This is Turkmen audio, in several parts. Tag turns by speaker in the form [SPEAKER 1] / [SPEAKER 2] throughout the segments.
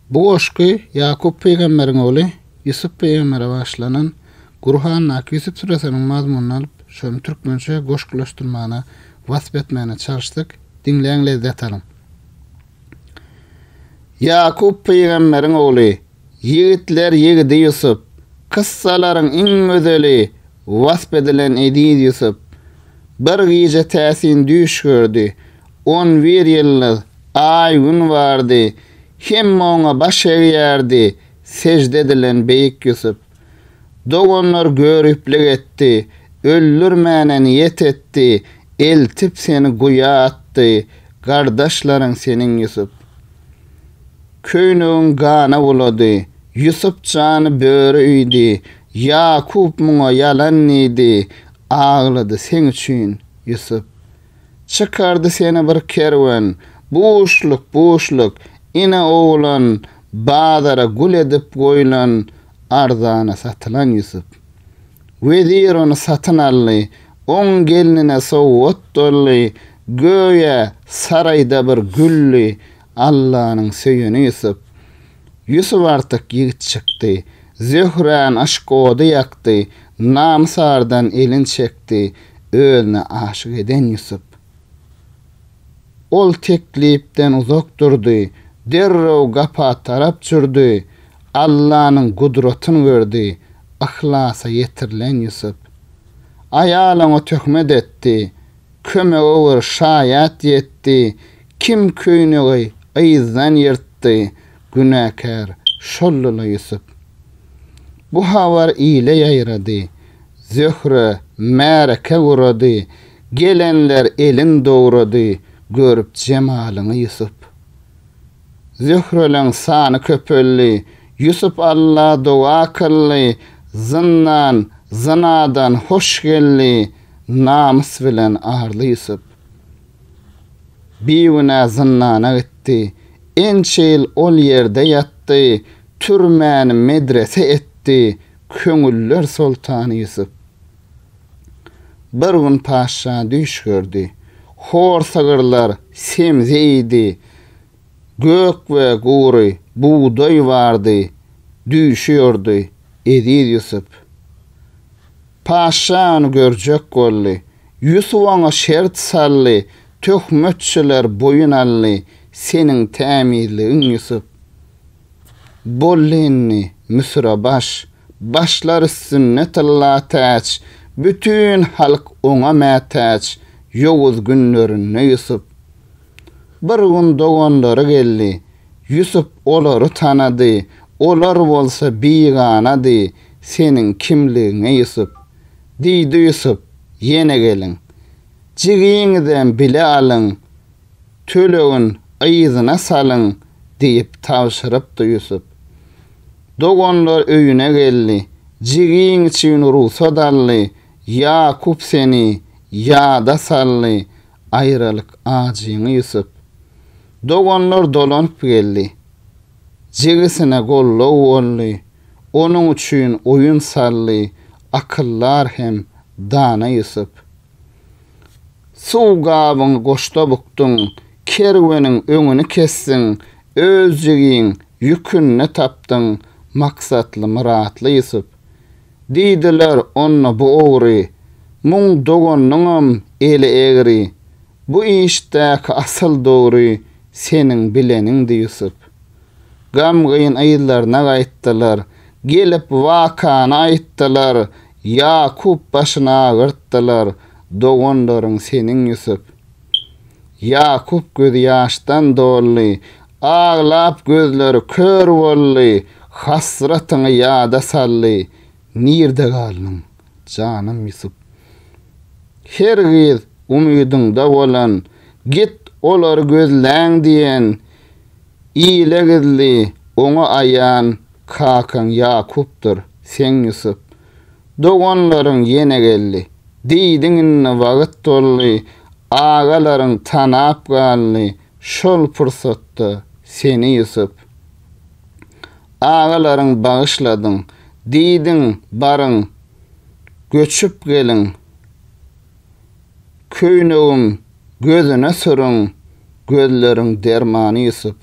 [SPEAKER 1] Bu goşgy Ýakup pygamberiň ogly Ýusup pygambere bagyşlanan Gurhandaky Ýusup süresiniň mazmunyny alyp, şony türkmençe goşgulaşdyrmagyna, wasp etmegine çalyşdyk. Diňläň, lezzet alyň! Ýakup pygamberiň ogly, ýigitler ýigidi Ýusup, kyssalaryň iň gözeli wasp edilen eziz Ýusup, bir gije täsin düýş gördi. On bir ýyldyz, Aý, Gün bardy, hemme oňa baş egýärdi, sežde edilen beýik Ýusup. Doganlar göriplik etdi, öldürmäne niýet etdi, eltip seni guýa atdy, gardaşlaryň seniň Ýusup. Köýnegiň gana bulady, Ýusup jany böri iýdi, Ýakup muňa ýalan diýdi, aglady seň üçin, Ýusup. Çykardy seni bir kerwen, Buşluk, buşluk, ine oglan, Bazara gul edip goýlan, Arzana satylan Ýusup. Wezir ony satyn aldy, Oň gelnine sowgat doldy, Göýä, saraýda bir güldi, Allanyň söýeni Ýusup. Ýusup artyk ýigit çykdy. Zöhräň yşk ody ýakdy, Namysardan elin çekdi, Özüne aşyk eden Ýusup. Ol teklipden uzak durdy, Derrew gapa tarap jürdi, Allanyň gudratyn gördi, Yhlasa ýetirilen Ýusup. Aýal oňa töhmet etdi, Kömege bir şaýat ýetdi, Kim köýnegi yzdan ýyrtdy, Günäkär şoldyla Ýusup. Bu habar ile ýaýrady, Zöhre märeke gurady, Gelenler elin dogrady, Görüp jemalyňy Ýusup. Zöhreleň sany köpeldi. Ýusup Alla doga kyldy, Zyndan, zynadan hoş geldi, Namys bilen arly Ýusup. Bigünä zyndana gitdi. Ençe ýyl ol ýerde ýatdy, Türmäni medrese etdi, Köňüller soltany Ýusup. Bir gün paşşa düýş gördi. Hor sygyrlar semze iýdi, Gök we gury bugdaý bardy, Düýşüyordy Eziz Ýusup. Paşşa ony görjek boldy, Ýusup oňa şert saldy, Töhmetçiler boýun aldy, Seniň tämizligiň Ýusup. Boldy indi Müsüre baş, Başlar üstünde tylla täç, Bütin halk oňa mätäç, Ýowuz günlerinde Ýusup. Bir gün doganlary geldi. Ýusup olary tanady. Olar bolsa biganady. Seniň kimligiňe Ýusup? Diýdi Ýusup, Ýene geliň. Jigiňizem bile alyň. Tölegin yzyna salyň, diýip tabşyrypdy Ýusup. Doganlar öýüne geldi. Jigiň üçin rugsat aldy. Ýakup seni ýada saldy. aýralyk ajyňy Ýusup. Doganlar dolanyp geldi. Jigisine goldaw boldy, onuň üçin oýun saldy akyldar hem dana Ýusup. Suw gabyňy goşda bukduň, kerweniň öňüni kesdiň, öz jigiň ýükünde tapdyň maksatly-myratly Ýusup. Diýdiler onda bu ogry, Muň doganynyňam eli egri, Bu işdäki asyl dogry Seniň bileniňdi Ýusup. Gamgyn yzlaryna gaýtdylar, Gelip wakany aýtdylar, Ýakup başyny agyrtdylar, Doganlaryň seniň Ýusup. Ýakup gözi ýaşdan doldy, Aglap gözleri kör boldy, Hasratyňy ýada saldy. Nirde galdyň, janym Ýusup? Her gyz umydyňda bolan, Git, olary gözläň diýen, Ile gizli, oňa aýan Kakaň Ýakupdyr, seň Ýusup. Doganlaryň ýene geldi. Diýdiň indi wagt boldy, Agalaryň tanap galdy, Şol pursatda seni Ýusup. Agalaryň bagyşladyň. Diýdiň, baryň, göçüp geliň, Köýnegim gözüne süriň, Gözleriň dermany Ýusup.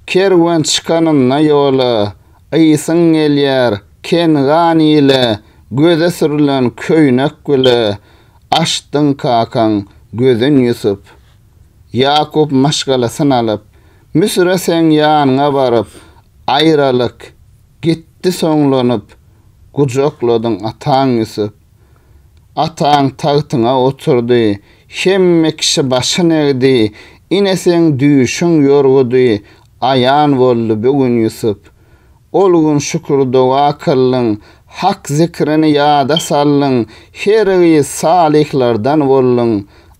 [SPEAKER 1] Kerwen çykanynda ýola, Ysyň gelýär, Kengan ile, Göze sürlen köýnek bile, Açdyň kakaň gözün Ýusup. Ýakup maşgalasyn alyp, Müsüre seň ýanyňa baryp, Aýralyk, gitdi soňlanyp, Gujakladyň ataň Ýusup. Ataň tagtyňa oturdy, Hemme kişi başyn egdi, Ine seň düýşüň ýorgudy, Aýan boldy bu gün Ýusup. Ol gün şükür-doga kyldyň, Hak zikrini ýada saldyň, Her gyz salyhlardan bolduň,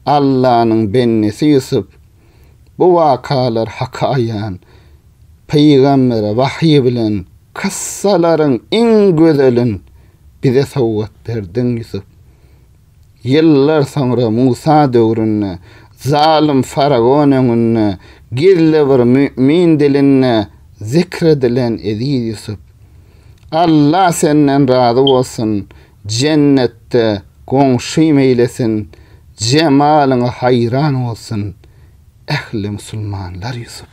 [SPEAKER 1] Allanyň bendesi Ýusup. Bu wakalar Haka aýan, Pygambere wahyý bilen, Kyssalaryň iň gözelin. bize sowgat berdiň, Ýusup. Ýyllar soňra Musa döwründe zalym faraon öňünde gizli bir mümin dilinde zikr edilen eziz Ýusup. Alla senden razy bolsun, jennetde goňşym eýlesin, jemalyňa haýran bolsun ähli musulmanlar Ýusup.